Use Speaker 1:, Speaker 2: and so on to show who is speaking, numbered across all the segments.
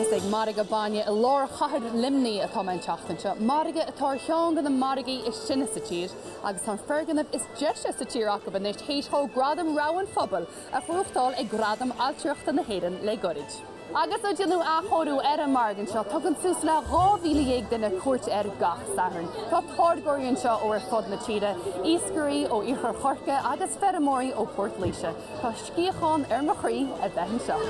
Speaker 1: Is ag Margadh Bainne i lár chathair Luimnigh atá mé an tseachtain seo, margadh atá ar cheann de na margaí is sine sa tír agus tá an foirgneamh is deise sa tír acu anois théis dhó Gradam Rogha an Phobail a bhuachtáil ag Gradaim Ailtireachta na hÉireann le goirid. Agus ó déanadh athchóiriú ar an margadh anseo, tugann suas le 12,000 duine cuairt air gach Satharn. Tá táirgeoirí anseo ó ar fud na tíre, iascairí ó iarthar Chorcaí agus feirmeoirí ó Phort Laoise. Tá sciathán ar mo chroí a bheith anseo.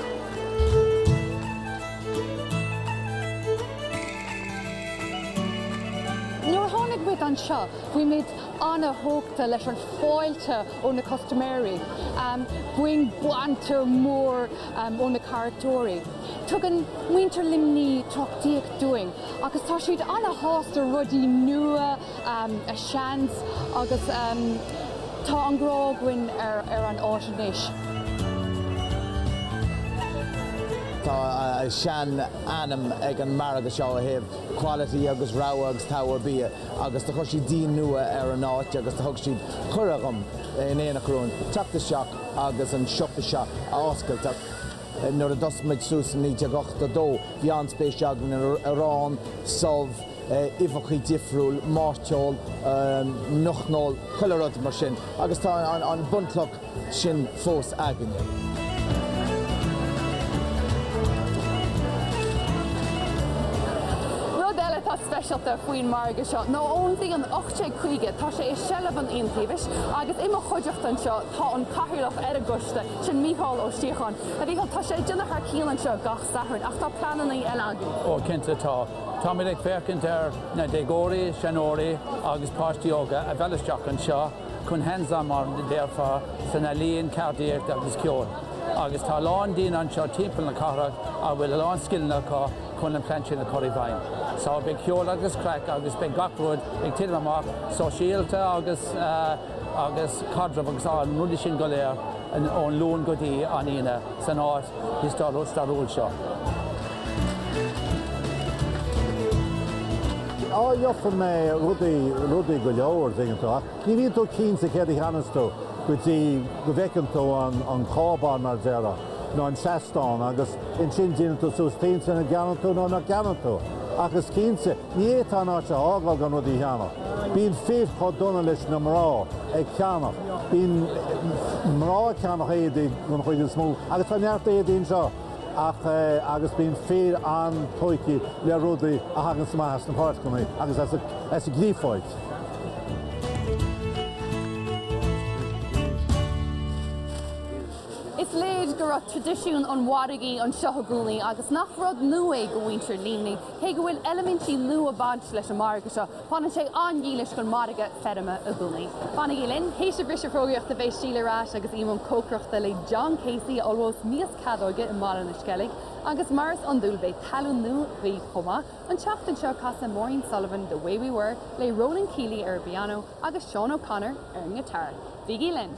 Speaker 1: Nuair a tháinig muid anseo, bhí muid an-tógtha leis an fáilte ó na custaiméirí. Bíonn banter mór ó na carachtóirí. Tugann muintir Luimní tacaíocht dúinn agus tá siad an-shásta rudaí nua a sheans agus tá an grá againn ar an áit anois.
Speaker 2: Tá sean ainm ag an margadh seo ó thaobh quality agus rogha agus togha bia agus do chuir siad díon nua ar an áit agus do thug siad cuireadh dhom in éineacht romhainn teacht isteach agus an siopa seo a oscailt ach nuair a d'fhás muid suas i 1982 bhí an-spéis againn in arán, subh, uibheachaí difriúil, mairteoil, muiceoil, chuile rud mar sin agus tá an bunchloch sin fós againne. Rud eile atá speisialta faoin margadh seo ná ó
Speaker 1: mhí an. sé chuige. Tá sé i seilbh an Iontaobhais agus i mo chuideachta anseo tá an Cathaoirleach ar an gcoiste, sin Mícheál Ó Síocháin. A Mhícheáil, tá sé ag déanamh thar cionn anseo gach Satharn ach tá pleanannaí eile agaibh. Ó cinnte tá.
Speaker 3: Táimid ag féachaint ar na déagóirí, seanóirí agus páistí óga a mhealladh isteach anseo chun hands-on mar a déarfá san ealaíon, ceardaíocht agus ceol. Agus tá a lán daoine anseo timpeall na cathrach a bhfuil a lán scileanna acu chun an plean sin a chur i bhfeidhm. Só, beidh ceol agus craic agus beidh gach rud ag titim amach, sóisialta agus caidreamh agus an rudaí sin go léir ón Luan go dtí an Aoine san áit stairiúil seo.
Speaker 4: Á, gheobhaidh mé rudaí go leor, dtuigeann tú, ach ní bhíonn tú cinnte céard a cheannós tú go dtí go bhfeiceann tú an cábán, mar a déarfá, nó an seastán agus. Ansin déanann tú suas cinnte nach gceannaíonn tú nó nach gceannaíonn tú, ach is cinnte, ní fhéadfá an áit a fhágáil gan rudaí a cheannach. Bíonn fir chomh dona leis na mná ag ceannach, bíonn mná ag ceannach éadaí den chuid is mó, agus tá neart éadaí anseo ach agus bíonn fir an-tógthaí le rudaí a thagann amach as na páirceanna agus as an gcréafóid.
Speaker 1: Is léir go raibh traidisiún an mhargaidh anseo i gcónaí agus nach rud nua é do mhuintir Luimní, cé go bhfuil eilimintí nua ag baint leis an margadh seo, fanann sé an-dhílis don mhargadh feirme i gcónaí. Fanaigí linn, théis an bhriseadh fógraíochta beidh Síle ar ais agus i mbun cócaireachta le John Casey a ullmhós mias cadóige i mBaile na Sceilg agus mar is iondúil beidh tallann nua againn chomh maith. An tseachtain seo casfaidh Maureen Sullivan The Way We Were le Ronan Keeley ar an bpianó, agus Seán O'Connor ar an ngiotár. Bígí linn!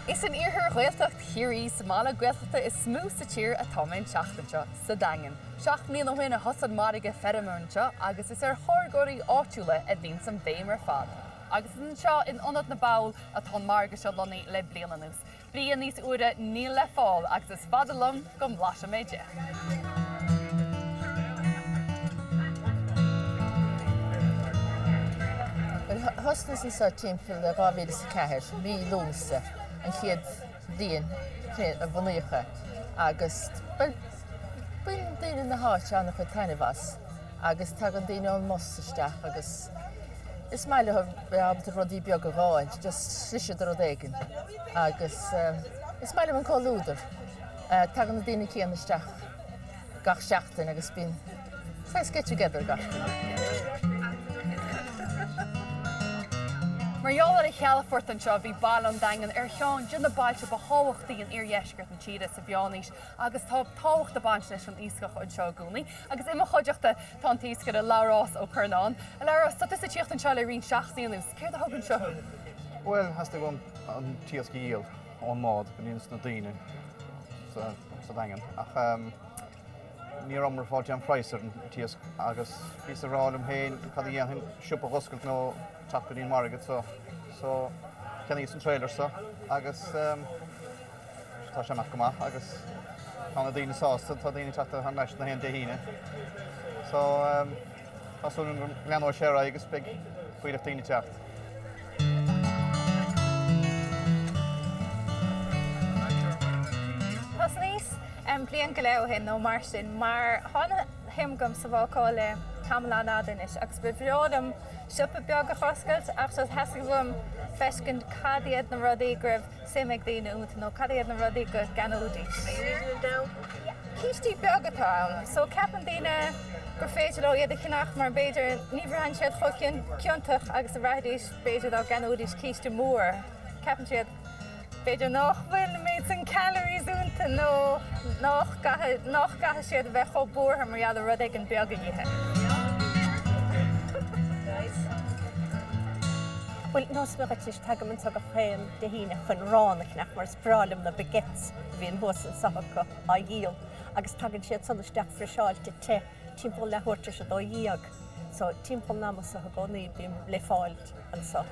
Speaker 1: Is in iarthar Ghaeltacht Chiarraí, sa mbaile Gaeltachta is mó sa tír, atá mé an tseachtain seo, sa Daingean. Seacht mbliana ó shin a thosaigh an margadh feirme anseo agus is ar tháirgeoirí áitiúla a bhíonns an bhéim ar fad. Agus is anseo, in Ionad na mBall, atá an margadh seo lonnaithe le bliain anuas. Bia níos úire níl le fáil agus is fada liom go mblaisfidh mé de!
Speaker 5: Bhuel, thosnaíos anseo timpeall 2004, mí Lúnasa, an chéad bhliain a bhunaíodh é agus baineann daoine na háite an-chuid taitnimh as agus tagann daoine ón mbus isteach agus, Is maith leo a bheith ábalta rudaí beaga a dh'fháil, just slisín de rud éigin. Agus is maith liom an comhluadar. Tagann na daoine céanna isteach gach seachtain agus bíonn saghas get together gach Mar gheall ar an chalafort anseo, bhí baile an Daingin ar cheann de na bailte ba thábhachtaí in iardheisceart na tíre sa mheánaois agus tá tábhacht ag baint leis an iascach anseo i gcónaí agus i mo chuideachta Tá an t-iascaire Labhrás Ó Curnáin. A Labhrás, tá tusa ag tíocht anseo le roinnt seachtainí anuas. Céard a thug anseo thú? Bhuel, theastaigh
Speaker 6: uaim an t-iasc a dhíol ón mbád go dtí na daoine sa Daingean ach ní rabhamar ag fáil aon phraghas ar an t-iasc agus bhíos ag rá liom féin cad a dhéanfainn, siopa a dh'oscailt nó teacht go dtí an market so cheannaíos an trailer so agus. Tá sé ag imeacht go maith agus tá na daoine sásta, tá daoine ag teacht thar n-ais na haon Dé hAoine. So, tá súil agam go leanóidh sé ar aghaidh agus beidh fuílleach daoine ag teacht.
Speaker 7: Thosnaíos bliain go leith ó shin nó mar sin mar tá an-shuim agam sa bhácáil le tamall an-fhada anois agus ba bhreá liom siopa beag a oscailt ach theastaigh uaim feiscint cad iad na rudaí go raibh suim ag daoine iontu nó cad iad na rudaí go gceannóidís. Cístí beaga atá ann so ceapann daoine gur féidir leo iad a cheannach mar b'fhéidir ní bhraitheann siad chomh ciontach agus a bhraithfidís b'fhéidir dá gceannóidís císte mór. Ceapann siad b'fhéidir nach bhfuil an méid san calories iontu nó nach gcaithfidh siad a bheith chomh buartha mar gheall ar rud éigin beag a ithe.
Speaker 8: Bhuel, neosfaidh mé dhuit anois, tagaim anseo gach aon Dé hAoine chun arán a cheannach mar is breá liom na baguettes a bhíonn thuas ansan acu á dhíol agus tagann siad san isteach friseáilte te timpeall leathuair tar éis a dó dhéag so timpeall an ama so i gcónaí bím le fáil
Speaker 1: anso.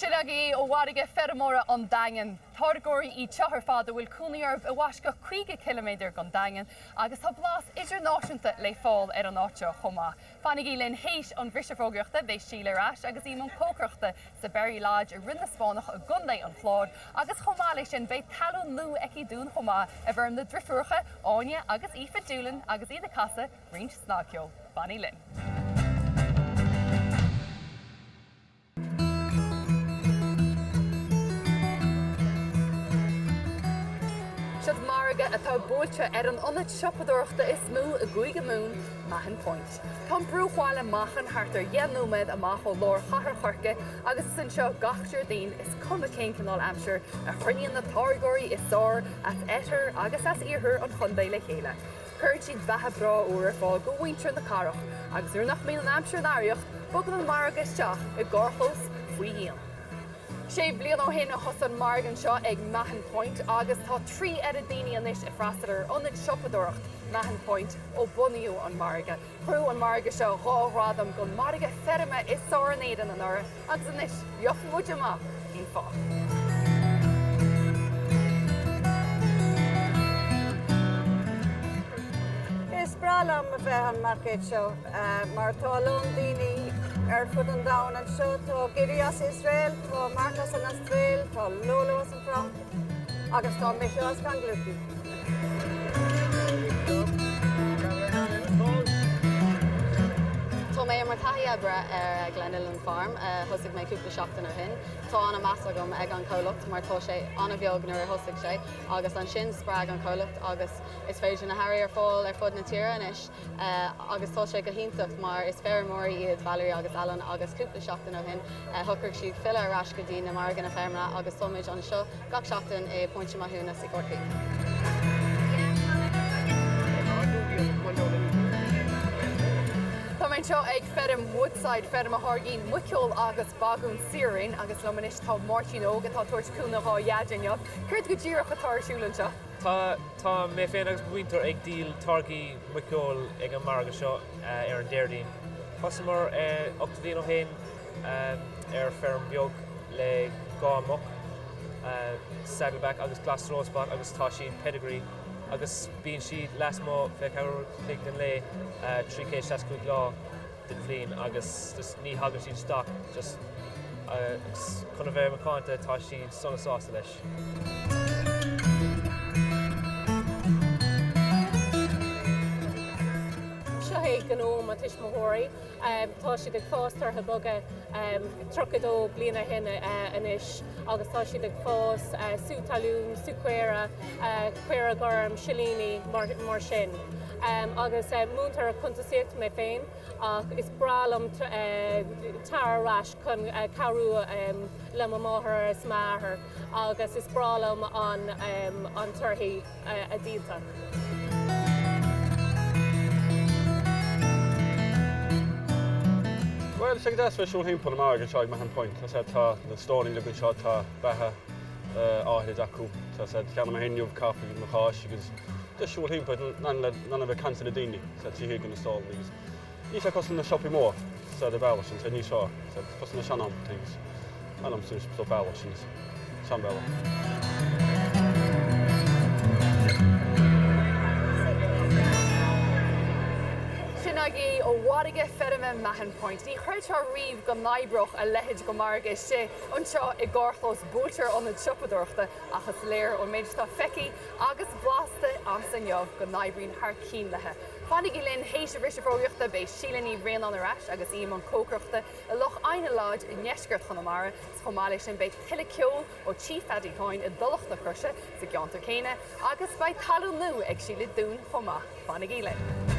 Speaker 1: Sin agaibh é ó mhargadh feirmeoirí an Daingin. Táirgeoirí iad seo ar fad a bhfuil cónaí orthu i bhfoisceacht 50 ciliméadar den Daingean, Agus tá blas idirnáisiúnta le fáil ar an áit seo chomh maith. Fanaigí linn théis an bhriseadh fógraíochta, beidh Síle ar ais agus í i mbun cócaireachta sa Berry Lodge i Rinn na Spáinneach i gContae an Chláir agus chomh maith leis sin beidh tallann nua aici dúinn chomh maith i bhfoirm na driofúracha Áine agus Aoife Doolin agus iad ag casadh roinnt snagcheol. Fanaigí linn! Seoid margaidh atá buailte ar an ionad siopadóireachta is mó i gCúige Mumhan, Mahon Point. Tá an bruachbhaile Machain thart ar dheich nóiméad amach ó lár Chathair Chorcaí agus is anseo gach Déardaoin, is cuma cén cineál aimsire, a chruinníonn na táirgeoirí is fearr as oirthear agus as iarthar an chontae le chéile. Cuireann siad beatha breá úr ar fáil do mhuintir na cathrach agus nuair nach mbíonn an aimsir in araíocht, bogann an margadh isteach i gcarrchlós faoi dhíon. Sé bliana ó shin a thosaigh an margadh anseo ag Mahon Point agus tá trí oiread daoine anois ag freastal ar ionad siopadóireacht Mahon Point ó bunaíodh an margadh. Ghnóthaigh an margadh seo dhá ghradam do mhargadh feirme is fearr in Éirinn anuraidh agus anois gheobhaidh muid amach cén fáth.
Speaker 9: Is breá liom a bheith an marcéad seo mar tá a lán daoine ar fud an domhain anseo. Tá Giri as Iosrael, tá Mark as an Astréil, tá Lolo as an.
Speaker 10: Fhrainc agus tá mise as Glenilen. Tá mé mar thaithí oibre ar Glenilen Farm, thosaigh mé cúpla seachtain ó shin. Tá an-meas agam ag an comhlacht mar tá sé an-bheag nuair a thosaigh sé agus ansin spreag an comhlacht agus is féidir na hearraí ar fáil ar fud na tíre anois. agus tá sé go hiontach mar is feirmeoirí iad Valerie agus Alan agus cúpla seachtain ó shin shocraigh siad filleadh ar ais go dtí na marganna feirmeacha agus tá muid anseo gach seachtain i Póinte Mathúna sa
Speaker 1: Corcaigh. Tá mé anseo ag feirm Woodside, feirm a tháirgíonn muiceoil agus bagún saor-raoin agus liom anois tá Máirtín Óg atá ag tabhairt cúnamh dhá Dhaid inniu. Céard go díreach atá ar siúl anseo? Tá, tá
Speaker 11: mé féin agus muintir ag díol táirgí muiceola ag an margadh seo ar an Déardaoin. Thosaíomar ocht mbliain ó shin ar feirm bheag le dhá mhuc, Saddleback agus Gloucester Old Spot agus tá siad Pedigree agus bíonn siad lasmuigh fiche ceathair a chloig den lae, 365 lá. den bhliain agus just ní thagann siad isteach just chun a bheith macánta tá siad sona sásta
Speaker 8: leis. Seo é gnó mo tuismitheoirí. Tá siad ag fás torthaí boga, 32 bliain ó shin anois agus tá siad ag fás sú talún, sú craobh, caora gorm, silíní, mar sin. agus múinteoir cuntasaíochta mé féin ach is breá liom teacht ar ais chun cabhrú le mo mháthair is m'athair agus is breá liom an torthaí a díol.
Speaker 12: Bhuel, tá sé go deas a bheith ag siúl thimpeall an margadh anseo ag Mahon Point. Tá sé, tá na stallaí againn anseo, tá beatha. áirithe acu. Tá said cheana mé féin inniu, caife nó cáis agus ag siúl thimpeall in ann a bheith ag caint le daoine, atá acu ag na stallaí agus níl sé cosúil leis na siopaí mór, sa bhealach sin, so níl sé, tá sé cosúil le sean-am thing san am sin so bealach sin,
Speaker 1: seanbhealach. Sin agaibh ó mhargadh feirme Mahon Point. Ní chreidfeá riamh go n-oibreodh a leithéid de mhargadh istigh. Anseo i gcarrchlós bóthair ionad siopadóireachta ach is léir ón méid atá feicthe agus blasta agamsa inniu go n-oibríonn thar cionn leo. Fanaigí linn th'éis an bhriseadh fógraíochta, beidh Síle Ní Bhraonáin ar ais agus í i mbun cócaireachta i Loch Eidhneach Lodge i ndeisceart Chonamara. Chomh maith leis sin beidh tuilleadh ceoil ó Tigh Phaddy Coyne i dTulach na Croise sa gceantar céanna agus beidh tallann nua ag Síle dúinn chomh maith. Fanaigí linn!